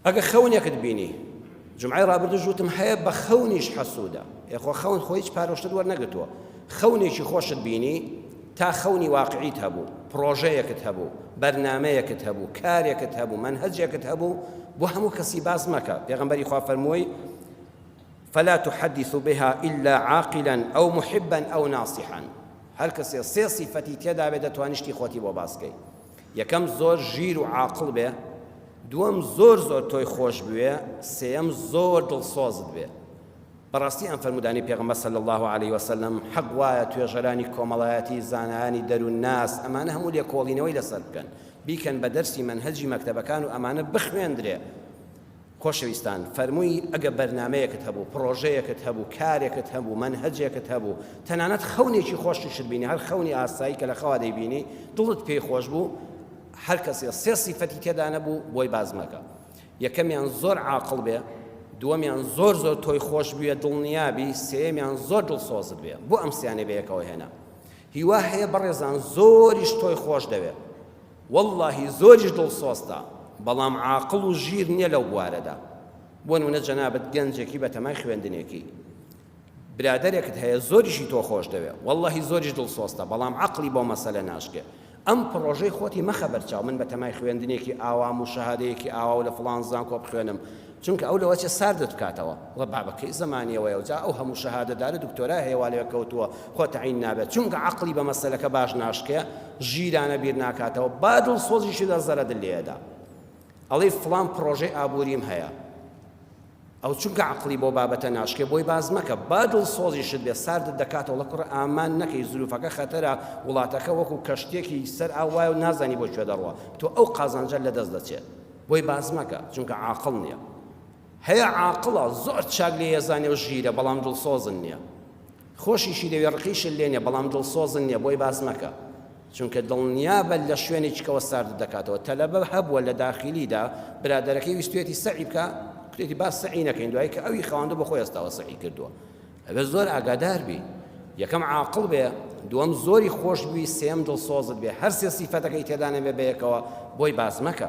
ئەگە خەونێکت بینی جمعی ڕابردوش وتم هەیە بە خەونیش حەسوودە ئێخۆ خەون خۆ هیچ پارۆشتت وەرنەگرتووە خەونێکی خۆشت بینی تا خەونی واقعیت هەبوو پرۆژەیەکت هەبوو بەرنمەیەکت هەبوو کارێکت هەبوو من هەجێکت هەبوو بۆ هەموو کەسی باز مەکە پێغمبەری خوا فەرمووی فلا تحدث بها إلا عاقلا أو محبا أو ناصحا هەر کەسێ سێ سیفەتی تێداوێت دەتوانیشتی خۆتی بۆ باسکەی یەکەم زۆر ژیر و عاقڵ بێ دووەم زۆر زۆر تۆی خۆش بوێ سێەم زۆر دڵسۆزت بێ بەڕاستی ئەم فەرمودانی پێغمە سەل الله عليه وسلم حەق وایە توێژەرانی کۆمەڵایەتی زانایانی دەروون ناس ئەمانە هەموو لێکۆڵینەوەی لەسەر بکەن بیکەن بە دەرسی منهجی مەکتەبەکان و ئەمانە بخوێندرێ خۆشەویستان فەرمووی ئەگە بەرنامەیەکت هەبوو، پڕۆژەیەکت هەبوو، کارێکت هەبوو، مەنهەجێکت هەبوو، تەنانەت خەونێکی خۆشیشت بینی، هەر خەونی ئاسایی کە لە خەوا دەیبینی دڵت پێی خۆش بوو، هەر کەسێ سێ سیفەتی تێدا نەبوو بۆی باس مەکە. یەکەمیان زۆر عاقڵ بێ، دووەمیان زۆر زۆر تۆی خۆش بوێ دڵنیابی، سێیەمیان زۆر دڵسۆزت بێ. بۆ ئەم سێیانەی بەیەکەوە هێنا؟ هیوا هەیە بەڕێزان زۆریش تۆی خۆش دەوێ وەڵاهی زۆریش دڵسۆزتە بەڵام عاقڵ و ژیر نیە لەو بوارەدا بۆ نمونە جەنابت گەنجێکی بەتەمای خوێندنێکی برادەرێکت هەیە زۆریشی تۆ خۆش دەوێ وەڵاهی زۆریش دڵسۆزتە بەڵام عەقڵی بۆ مەسەلە ناشکێ ئەم پڕۆژەی خۆتی مەخە بەرچاو، من بەتەمای خوێندنێکی ئاوام و شەهادەیەکی ئاوا و لە فڵان زانکۆ بخوێنم، چونکە ئەو لەوەچێ ساردت بکاتەوە، وە بابە کەی زەمانیەوەیە و جا ئەو هەموو شەهادەدارە دکتۆرا هەیە وا لەوێ کەوتووە، خۆ تەعین نابێت، چونکە عەقڵی بە مەسەلەکە باش ناشکێ، ژیرانە بیر ناکاتەوە، با دڵسۆزیشی لەرزەرە دل لێ ئەدا، ئەڵێی فڵان پڕۆژەی ئابووریم هەیە. ئەو چونکە عەقڵی بەو بابەتە ناشکێ بۆی باس مەکە با دڵسۆزیشت بێ ساردت دەکاتە وڵە کوڕە ئامان نەکەی زروفەکە خەتەرە وڵاتەکە وەکو کەشتیەکی سەر ئاو وایەو نازانی بۆ کوێ دەڕوا تۆ ئەو قازانجە لەدەست دەچێت بۆی باس مەکە چونکە عاقڵ نیە هەیە عاقڵە زۆر چاک لێ یەزانێ و ژیرە بەڵام دڵسۆزن نیە خۆشیشی لەوێ ڕقیشت لێ نیە بەڵام دڵسۆزن نیە بۆی باس مەکە چونکە دڵنیابە لە شوێنی چکەوە ساردت دەکاتەوە، تەلەبە هەبووە لە داخیلیدا برادەرەکەی ویستویەتی سەعی بکا کوتێتی با سەعی نەکەین دوایی کە ئەوی خەواندو بەخۆی هەستاوە سەعی کردووە ئەبێ زۆر ئاگادار بی یەکەم عاقڵ بێ دووەم زۆری خۆش بوی سێم دڵسۆزت بێ هەر سێ سیفەتەکەی تێدا نەبێ بەیەکەوە بۆی باس مەکە